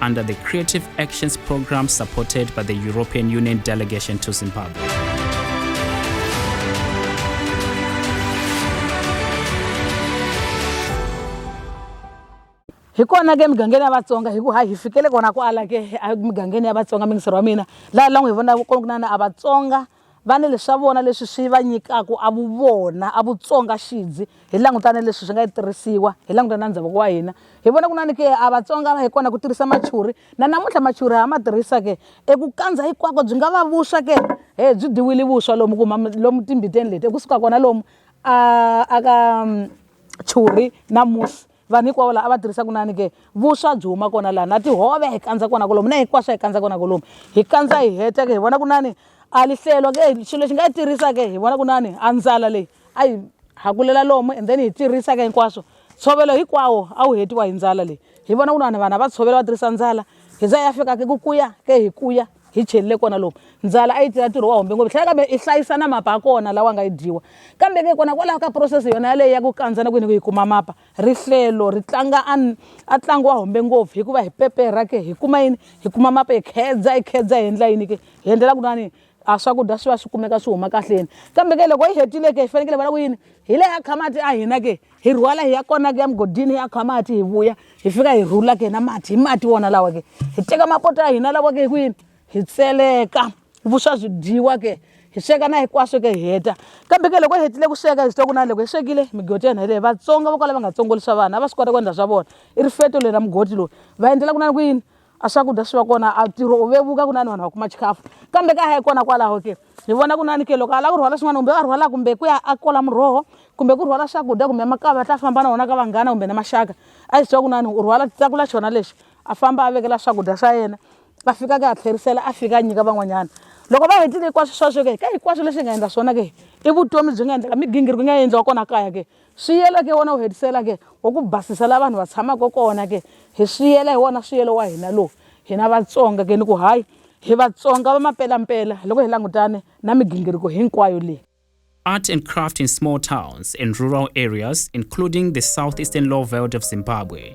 under the Creative Actions Programme supported by the European Union delegation to Zimbabwe. hi kona ke migangeni ya vatsonga hi ku ha hi fikele kona kwala ke emigangeni ya vatsonga mingisero wa mina laha la n'wi hi vonaka kona ku na na a vatsonga Va ni leswa vona leswi swi va nyikaka a vuvona, a Vutsonga xidzi. Hi languta ni leswi swi nga tirhisiwa, hi languta na ndhavuko wa hina. Hi vona ku na ni ke a Vatsonga va hi kona ku tirhisa machuri. Na namuntlha machuri ha ma tirhisa ke. Eku kandza hinkwako byi nga va vuswa ke. He byi dyiwile vuswa lomu ku huma lomu timbiteni leti, eku suka kona lomu a a ka churi na musi. Vanhu hikwavo laha a va tirhisa kunani ke, vuswa byi huma kona laha, na tihove hi kandza kona kolomu, na hinkwaswo hi kandza kona kolomu. Hi kandza hi heta ke hi vona kunani a li hlelo ke, xilo lexi nga yi tirisa ke hi vona kunani a ndlala leyi a yi hakulela lomu and then hi tirisa ke hinkwaswo. Ntshovelo hinkwawo a wu hetiwa hi ndlala leyi, hi vona kunani vanhu a va tshovela va tirhisa ndlala hi za ya fika ke ku kuya ke hi kuya. hi chelile kona lomu ndzala a yi tirha ntirho wa hombe ngopfu tlhela kambe i hlayisa na mapa ya kona lawa nga yi dyiwa kambe ke kona kwalaho ka process yona yaleyo ya ku kandza na kwini ku yi kuma mapa rihlelo ri tlanga a ntlangu wa hombe ngopfu hikuva hi pepe ra ke hi kuma yini hi kuma mapa hi khedza hi khedza hi endla yini ke hi endlela ku nani a swakudya swi va swi kumeka swi huma kahleni kambe ke loko yi hetile ke hi fanekele va la ku yini hi le ya khamati a hina ke hi rhwala hi ya kona ke ya mugodini hi ya kha mati hi vuya hi fika hi rhula ke na mati hi mati wona lawa ke hi teka mapoto ya hina lawa ke hi kwini hi tseleka vuswa byi dyiwa ke hi sweka na hinkwaswo ke hi heta kambe ke loko hi hetile ku sweka hi swi twa ku na loko hi swekile migodi ya hina leyi vatsonga vo kwala va nga tsongolisa vanhu a va swi kota ku endla swa vona i rifeto leri ra mugodi loyi va endlela ku na ni ku yini a swakudya swi va kona a ntirho u vevuka ku na ni vanhu va kuma chikafu kambe ka hayi kona kwalaho ke hi vona ku nani ke loko a lava ku rhwala swin'wana kumbe a rhwala kumbe ku ya a kola muroho kumbe ku rhwala swakudya kumbe makavi a ta famba na wona ka vanghana kumbe na maxaka a yi swi tiva ku nani u rhwala tsakula xona lexi a famba a vekela swakudya swa yena a fika ka a tlherisela a fika a nyika van'wanyana loko va hetile hinkwaswo sweswo ke ka hinkwaswo leswi hi nga endla swona ke i vutomi byi nga endleka migingiriko yi nga endliwa kona kaya ke Swiyela ke wona wu hetisela ke wa ku basisa la vanhu va tshamaka kona ke hi swiyela hi wona swiyelo wa hina lowu hina Vatsonga ke ni ku hayi hi Vatsonga va mapelampela loko hi langutane na migingiriko hinkwayo leyi. Art and craft in small towns and rural areas including the southeastern low veld of Zimbabwe.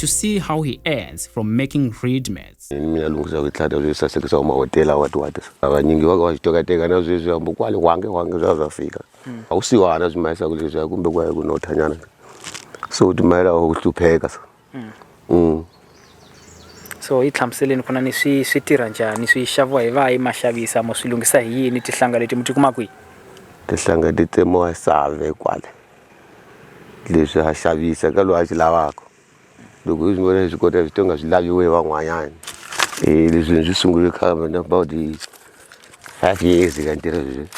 to see how he earns from making reed mats. mina lunghisa ku tlhata sweswi sasekisa wa mahotela wa tiwati avanyingi va ka va swi tokateka na sweswi hambo kwale wange wange swa swa fika hmm. a ku siwana swi mayisaku leswiya kumbe ku ya ku nothanyana so u timayela wa ku hlupheka so hmm. Hmm. so yi hlamuseleni ku na ni swi swi tirha njhani swi xaviwa hi vahi ma xavisa mo swi lunghisa hi yini tihlanga leti mi ti kuma kwihi tihlanga ti tsemiwa save kwale leswi ha xavisa ka loyi a swi lavaka loko hi swi vona hi swi kota hi swi tonga swi laviwe hi van'wanyana leswi hi swi sungule khale na about five years ka ntirho sweswi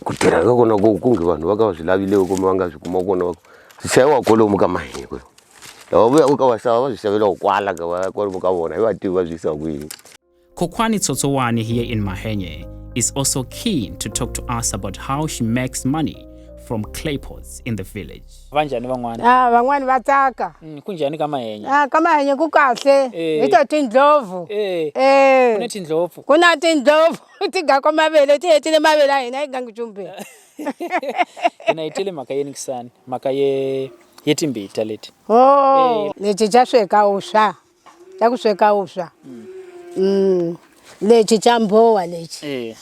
ku tirha ka kona ku ku nge vanhu va ka va swi lavile u kuma va nga swi kuma kona va ku swi xaviwa kwalomu ka mahiko lava vuyaka ka vaxava va swi xavelaku kwala ka va kwalomu ka vona hi vativi va swi yisa kwini. Kokwani Tsotsowani here in Mahenge is also keen to talk to us about how she makes money from clay pots in the village. Vanjhani van'wana? Ah, van'wana va tsaka. Mm, kunjhani ka mahenya? Ah, ka mahenya ku kahle. Eh. Hi to tindlopfu. Eh. Eh. Ku na tindlopfu. Ku na tindlopfu ti ga ko mavele ti hetile mavele a hina yi gangi jumbe. Hina yi tele mhaka yeni kisani? Mhaka ye ye timbita leti. Oh, eh. leti ja sweka uswa. ta ku sweka vuswa mm. lexi xa mbhowa lexi eh.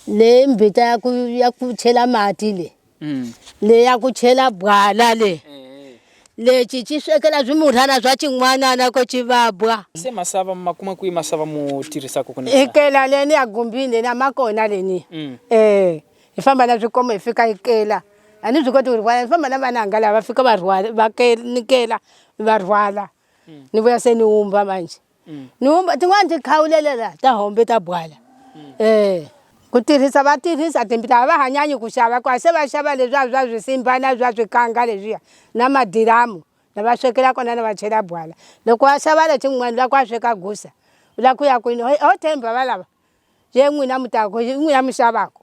leyi mbita ya ku ya ku chela mati le mm. leyi ya ku chela bwala le eh. lexi xi swekela swimurhana swa xin'wanana ko xi vabwa se masava ma kuma kwihi masava mo tirhisaka ku ikela leni ya gumbini leni a ma kona leni mm. eh hi famba na swikomo hi fika ikela a ni swi koti ku rhwala hi famba na vananga lava fika va rhwala va nikela va rhwala mm. ni vuya se ni wumba manje mm. ni wumba tin'wana ti khawulelela ta hombe ta bwala mm. eh ku tirhisa va tirhisa timpita a va hanyanyi ku xava ku se va xava leswiya swa swisimba na swa swikanga leswiya na madiramu lava swekela kona na va chela bwala loko wa xava lexi n'wani la ku a sweka gusa u la ku ya kwini ho themba va lava ye n'wina mutako n'wina mi xavako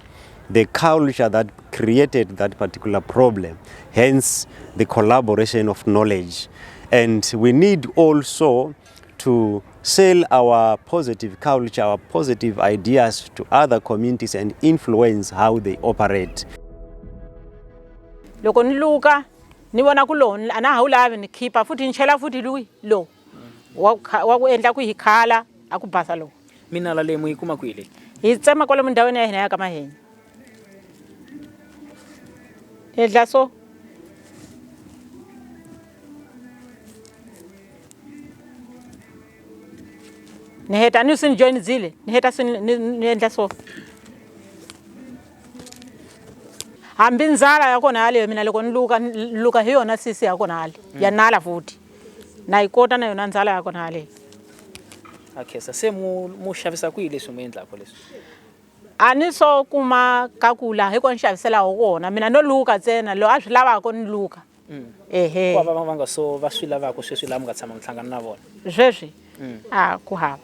the culture that created that particular problem, hence the collaboration of knowledge. And we need also to sell our positive culture, our positive ideas to other communities and influence how they operate. loko ni luka ni vona ku lowu a na ha wu lavi ni khipa futhi ni chela futhi luyi lowu wa ku kha- wa ku endla ku hi khala a ku basa lowu minala leyi mu yi kuma kwihi leyi hi tsema kwalomu ndhawini ya hina ya ka mahenya hi endla so ni heta ni swi ni joyinizile ni heta swi ni- ni ni endla so hambi ndzala ya kona yaleyo mina loko ni luka ni luka hi yona sisi ya kona hale ya nala futhi na yi kota na yona ndzala ya kona haleni a khensa se mu mu xavisa kwihi leswi mu endlaka leswi a ni swo kuma ka ku laha hi kona xaviselaho kona mina no luka ntsena loyi a swi lavaka ni luka mm. ehe ku va va nga so va swi lavaka sweswi laha mi nga tshama mi hlangana na vona sweswi mm. a ku hava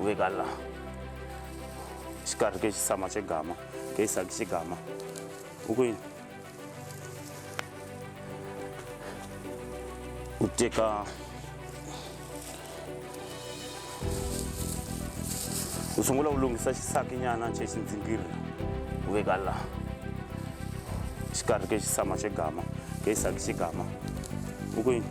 u ve ka laha xikarhi ke xisama xe gama ke xisaki xe gama u ku yini u teka u sungula u lunghisa xisakinyana xe xindzingiri u veka laha xikarhi ke xisama xe gama ke xisaki xe gama u ku yini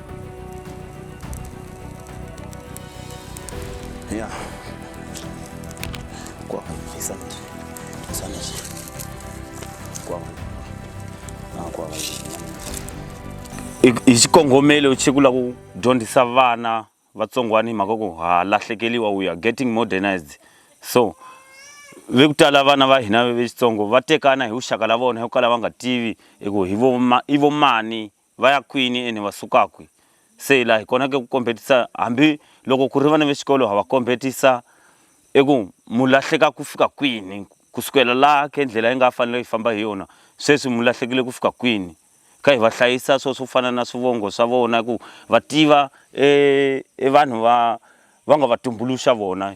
Ja. Kwa isa. Sana shi. Kwa. Na kwa. I- hi xikongomelo xi ku la ku dyondzisa vana vatsongwana hi mhaka ku ha lahlekeliwa we are getting modernized so ve ku tala vana va hina vexitsongo va tekana hi vuxaka la vona hi ku kala va nga tivi hi ku hi vo ma- i vo mani Va ya kwini ene va suka kwi? Se la hi konake ku kombhetisa, hambi loko ku ri vana ve xikolo ha va kombhetisa eku mu lahleka ku fika kwini, ku sukela la ke ndlela yi nga fanela hi famba hi yona, sweswi mu lahlekile ku fika kwini? Kha hi va hlayisa swo swo fana na swivongo swa vona ku va tiva e e vanhu va va nga va tumbuluxa vona.